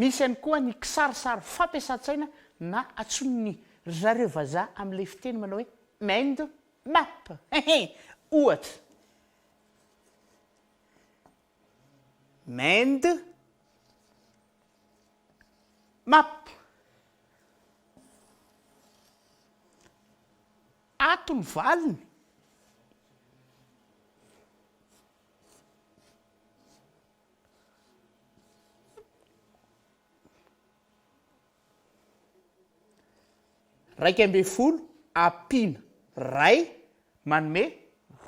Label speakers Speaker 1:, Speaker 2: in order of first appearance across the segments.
Speaker 1: Misy ihany koa ny kisarisary fampiasan-tsaina na antsoin'ny ry zareo vazaha amin'ilay fiteny manao hoe mind map. Hehe! Ohatra. Mind map. Ato ny valiny. Iraika ambin'ny folo ampiana iray manome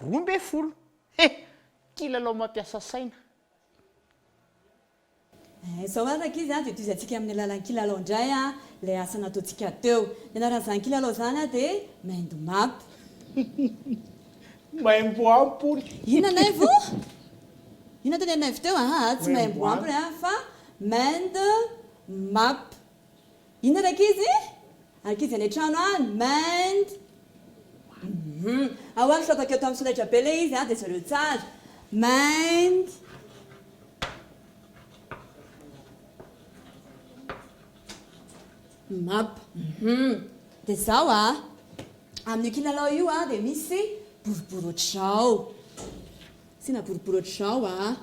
Speaker 1: roa ambin'ny folo. He! Kilalao mampiasa saina.
Speaker 2: Eh, izao ary rankizy a, dia tohizantsika amin'ny alalan'ny kilalao indray ilay asa nataontsika teo. Ny anaran'izany kilalao izany dia Mind Map.
Speaker 1: Maimbo ampoly. Inona Naivo?
Speaker 2: Inona teny an'i Naivo teo? Ahaa, tsy maimbo ampoly fa Mind. Map. Inona ry ankizy? Ankizy any an-trano any, mind. Hum. Ao ary fitaovako eo tamin'ny solaitra be ilay izy, dia jereo tsara. Mind. Map. Hum. Dia izao a. Amin'io kilalao io dia misy boribory ohatr'izao. Asiana boribory ohatr'izao a.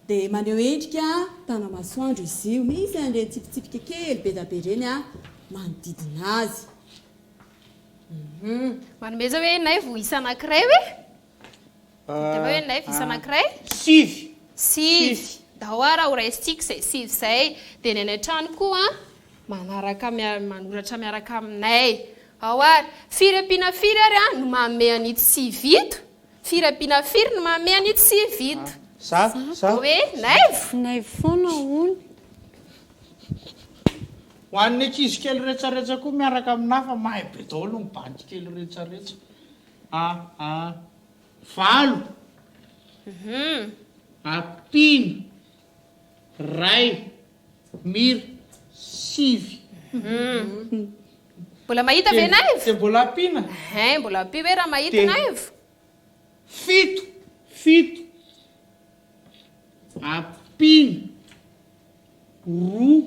Speaker 2: Dia maneho endrika tana-masoandro izy io. Misy an'ireny tsipitsipika kely be dia be ireny manodidina azy.
Speaker 3: Manome izao hoe naivo isa anankiray hoe? Dia hoe naivo isa anankiray? Sivy. Sivy. Ndao ara ho raisintsika izay sivy izay. Dia ny any an-trano koa manaraka manoratra miaraka aminay. Ao ary. Firy ampiana firy ary no manome an'ito sivy ito? Firabiana firy no mamehy an'io tsy vita. Za, za. Hoe naivo?
Speaker 4: Naivo foana hono.
Speaker 1: Ho an'ny ankizy kely retsaretsa koa miaraka amin'ny hafa, mahay be daholo ny bandy kely retsaretsa. Ah, ah. Valo. Hum. Ampino. Ray. Mir. Sivy.
Speaker 3: Mbola mahita ve Naivo? Dia mbola ampiana?
Speaker 1: Hein, mbola ampio ve
Speaker 3: raha mahita Naivo? Fito.
Speaker 1: Fito. Ampiana. Roa.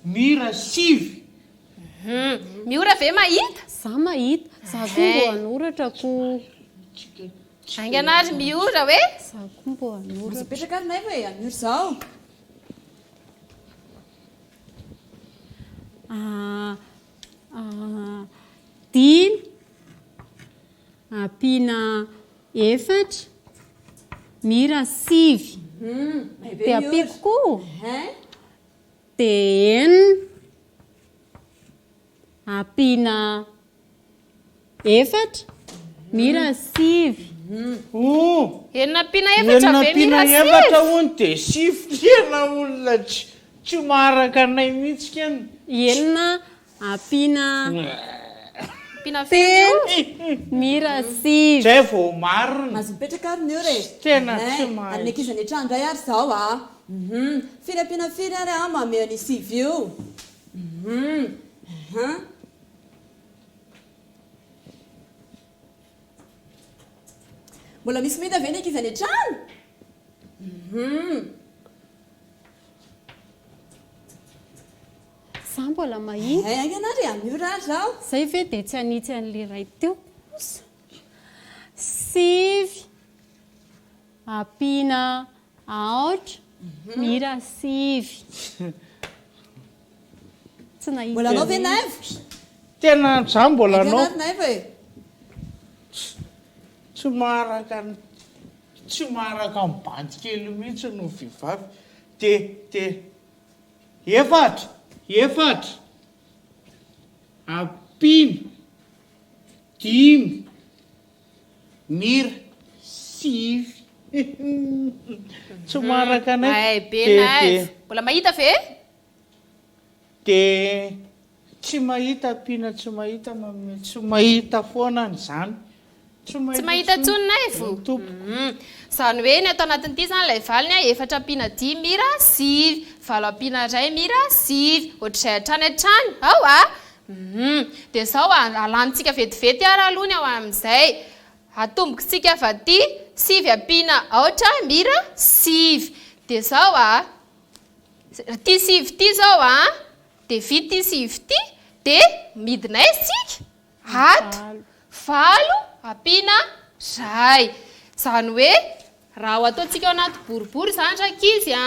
Speaker 1: Mir. Sivy.
Speaker 3: Miora ve mahita? Za mahita.
Speaker 4: Za koa mbo hanoratra ko.
Speaker 3: Aingana ary Miora hoe. Za koa mbo
Speaker 4: hanoratra. Aza apetraka ary naivo
Speaker 2: e,
Speaker 4: hanoro zaho. Dimy ampiana efatra Mira sivy. Dia ampiako koa. Dia enina. Ampiana efatra mira sivy oh.
Speaker 3: Enina ampiana efatra ve mira sivy? Enina ampiana efatra hono dia
Speaker 1: sivy tena olona tsy maharaka anay mihitsy ken. Enina
Speaker 4: ampiana Ampiana
Speaker 3: firy io? mira
Speaker 4: sivy. Zay vao marina.
Speaker 1: Azo mipetraka ary ny
Speaker 2: heure e. Tsy tena tsy mahay.
Speaker 1: Ary ny ankizy nitranga indray ary
Speaker 2: zao a. Hum firy ampiana firy ary a mamehy an'io sivy io. Mbola misy mety ve ny ankizy any an-trano?
Speaker 4: Za mbola mahita. Hay aingana ary anio ra
Speaker 2: zaho. Zay ve dia tsy hanitsy
Speaker 4: an'ilay iray teo kosa? Sivy. Ampiana aotra ny hira sivy. Tsy nahita Mbola anao ve Naivo?
Speaker 2: Tena
Speaker 1: za mbola anao. Aiza ary Naivo e? Tsy maharaka ny tsy maharaka ny bandy kely mihitsy ny vehivavy te te efatra efatra ampiana dimy. Mira sivy tsy maraka anay Mahay be de na de aiza?
Speaker 3: Mbola mahita ve? de
Speaker 1: tsy mahita ampiana tsy mahita manome tsy mahita foana any zany tsy Tsy
Speaker 3: mahita intsony ny Naivo? ny tompoko Hum. Izany hoe ny ato anatin'ity izany ilay valiny a, efatra ampiana dimy Mira sivy, valo ampiana iray Mira sivy, ohatr'izay hatrany hatrany. Ao a! Humm. Dia izao a, alanintsika vetivety ary aloha ny ao amin'izay. Atombokitsika avy aty, sivy ampiana aotra, mira, sivy. Dia izao a, ity sivy ity izao a, dia vita ity sivy ity, dia midina aiza isika? Ato. Valo ampiana iray. Izany hoe, raha ho ataontsika ao anaty boribory izany rankizy a,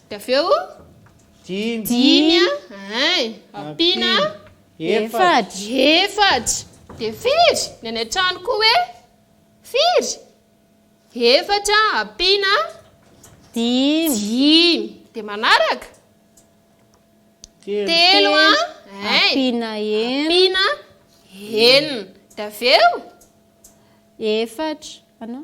Speaker 3: Dia avy eo, Dimy. dimy a, ein, ampiana Efatra. efatra. Dia firy? Ny any an-trano koa hoe, Firy? Efatra ampiana Dimy. dimy. Dia manaraka, Telo a, ein, Ampiana
Speaker 4: enina. ampiana
Speaker 3: enina. Dia avy eo,
Speaker 4: Efatra. Anao?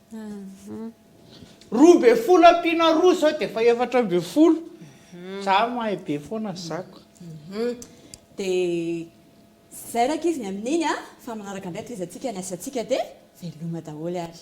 Speaker 1: Roa ambin'ny folo ampiana roa izao dia efa efatra ambin'ny folo. Za mahay be foana zako. Dia
Speaker 2: zay rankizy ny amin'iny a! Fa manaraka indray tezatsika ny asantsika dia veloma daholo ary.